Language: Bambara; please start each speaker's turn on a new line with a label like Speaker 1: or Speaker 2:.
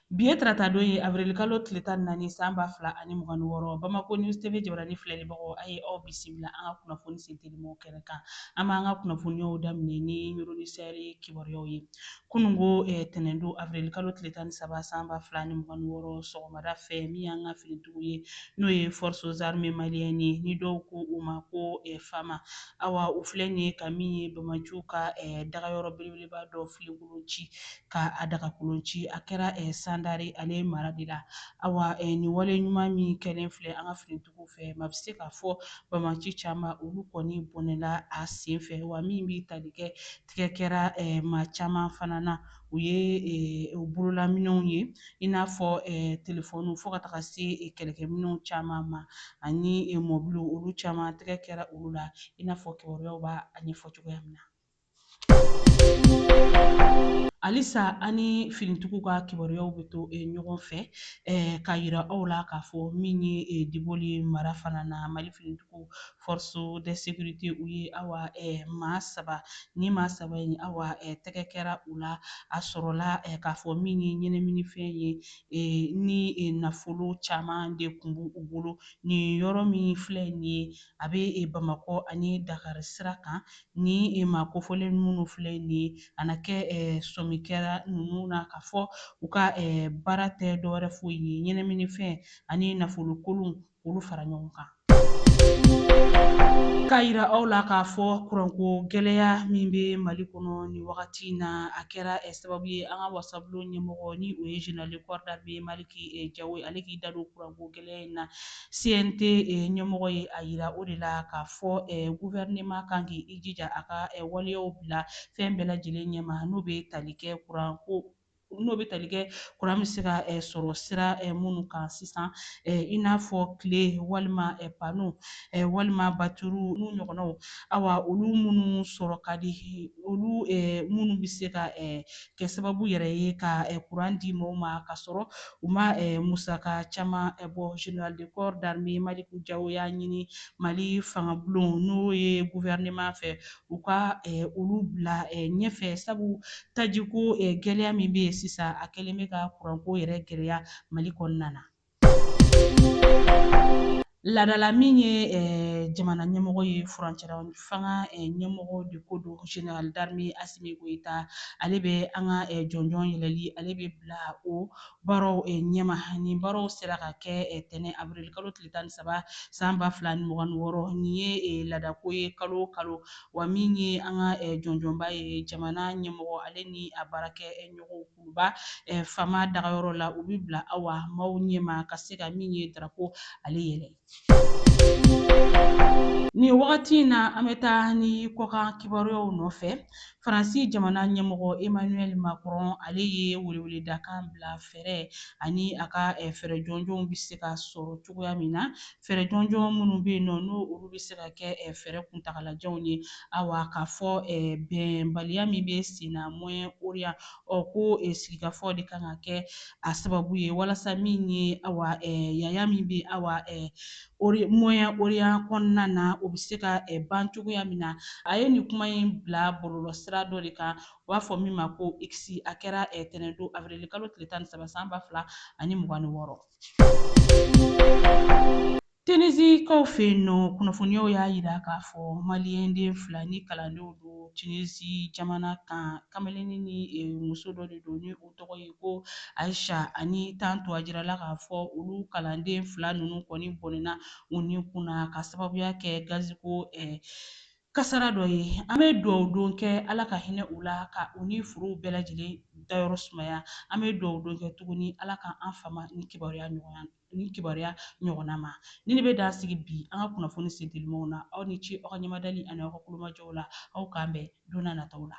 Speaker 1: Bi ye taratadon ye avril-kalo tile tan ni naani san ba fila ani mugan ni wɔɔrɔ. Bamako News TV jabarani filɛlibagaw, a ye aw bisimila an ka kunnafoni sentelimaw kɛnɛ kan. An b'an ka kunnafoniyaw daminɛ ni Yoroni Sahɛli kibaruyaw ye. Kunungo tɛnɛndon avril-kalo tile tan ni saba san ba fila ani mugan ni wɔɔrɔ sɔgɔmada fɛ, min y'an ka finitigiw ye, n'o ye Forces Armées Maliennes ye, ni dɔw ko u ma ko FAMA, awa, u filɛ nin ye ka min ye Bamaciw ka dagayɔrɔ belebeleba dɔ filen. kolon ci ka a dagakolon ci a kɛra eh, sandare ale mara de la awa eh, nin wale ɲuman min kɛlen filɛ an ka finitigiw fɛ maa bɛ se k'a fɔ bamaci caman olu kɔni bɔnɛla a sen fɛ wa min bɛ tali kɛ tigɛ kɛra eh, maa caman fana na u ye eh, bololaminɛnw ye i n'a fɔ eh, telefɔniw fo ka taga se eh, kɛlɛkɛminɛnw caman ma ani eh, mɔbiliw olu caman tigɛ kɛra olu la i n'a fɔ kibaruyaw b'a ɲɛfɔ cogoya min na halisa an ni finitigiw ka kibaruyaw bɛ to eh, ɲɔgɔn fɛ eh, k'a yira aw la k'a fɔ min ye eh, diboli mara fana na mali finitigiw force de sécurité u ye awa maa saba ni maa saba in awa tɛgɛ kɛra u la a sɔrɔla k'a fɔ min ye ɲɛnaminifɛn ye ni nafolo caman de kun b'u bolo nin yɔrɔ min filɛ nin ye a bɛ bamakɔ ani dakari sira kan ni maa kofɔlen minnu filɛ nin ye a na kɛ sɔmi kɛra ninnu na k'a fɔ u ka baara tɛ dɔwɛrɛ foyi ye ɲɛnaminifɛn ani nafolo kolon k'olu fara ɲɔgɔn kan K'a yira aw la k'a fɔ kuranko gɛlɛya min bɛ Mali kɔnɔ nin wagati in na, a kɛra sababu ye an ka wasabulon ɲɛmɔgɔ ni o ye Général de corps d'armée Maliki Jawo ye ale k'i da don kuranko gɛlɛya in na CNT ɲɛmɔgɔ ye a yira o de la k'a fɔ gouvernement kan k'i jija a ka waleyaw bila fɛn bɛɛ lajɛlen ɲɛma n'o bɛ tali kɛ kuran ko n'o bɛ tali kɛ kuran bɛ se ka sɔrɔ sira minnu kan sisan i n'a fɔ tile walima pano walima baturu n'u ɲɔgɔnnaw awa olu minnu sɔrɔ ka di olu minnu bɛ se ka kɛ sababu yɛrɛ ye ka kuran di mɔgɔw ma k'a sɔrɔ u ma musaka caman bɔ général de corps d'armée maliki jawo y'a ɲini mali fangabulon n'o ye gouvernement fɛ u ka olu bila ɲɛfɛ sabu tajiko gɛlɛya min bɛ yen sisan a kɛlen bɛ ka kuranko yɛrɛ gɛlɛya mali kɔnɔna na Ladala min ye eh, jamana ɲɛmɔgɔ ye furancɛla fanga eh, ɲɛmɔgɔ de ko don général d'armée Asimi Goyita ale bɛ an ka eh, jɔnjɔn yɛlɛli ale bɛ bila o baaraw ɲɛma nin baaraw sera ka kɛ tɛnɛn avril kalo tile tan ni saba san ba fila ni mugan ni wɔɔrɔ nin ye ladako ye kalo o kalo wa min ye an ka jɔnjɔnba ye jamana ɲɛmɔgɔ ale ni a baarakɛɲɔgɔnw ba eh, fama dagayɔrɔ la u bi bila awa maaw ɲɛma ka se ka min ye darapo ale yɛlɛ nin wagati in na an bɛ taa ni kɔkan kibaruyaw nɔfɛ faransi jamana ɲɛmɔgɔ emmanuel macron ale ye weleweledakan bila fɛɛrɛ ani a ka eh, fɛɛrɛ jɔnjɔnw bɛ se ka sɔrɔ cogoya min na Fɛɛrɛ jɔnjɔn minnu bɛ yen nɔ n'o olu bɛ se ka kɛ fɛɛrɛ kuntagalajanw ye awa k'a fɔ bɛnbaliya min bɛ sen na Moyen Orient ɔ ko sigikafɔ de kan ka kɛ a sababu ye walasa min ye awa yaya min bɛ awa Moyen Orient kɔnɔna na o bɛ se ka ban cogoya min na. A ye nin kuma in bila bɔlɔlɔsira dɔ de kan u b'a fɔ min ma ko X a kɛra tɛnɛndon awirilikalo tile tan ni saba san ba fila ani mugan ni wɔɔrɔ. Tinizikaw fɛ yen nɔ kunnafoniyaw y'a yira k'a fɔ maliyɛnden fila ni kalandenw don Tinizi jamana kan kamalennin ni e, muso dɔ de don ni u tɔgɔ ye ko Ayisa ani Tanto a jirala k'a fɔ olu kalanden fila ninnu kɔni bɔnɛna u ni kun na k'a sababuya kɛ gaziko ɛ Kasara dɔ ye. An bɛ duwawu don kɛ Ala ka hinɛ u la, ka u ni furew bɛɛ lajɛlen dayɔrɔ sumaya. An bɛ duwawu don kɛ tuguni Ala ka an fama nin kibaruya nin kibaruya ɲɔgɔnna ma. Nin de bɛ dan sigi bi an ka kunnafoni sentelimaw na. Aw ni ce aw ka ɲɛmadali ani aw ka kulomajɔw la. Aw k'an bɛn don n'a nataw la.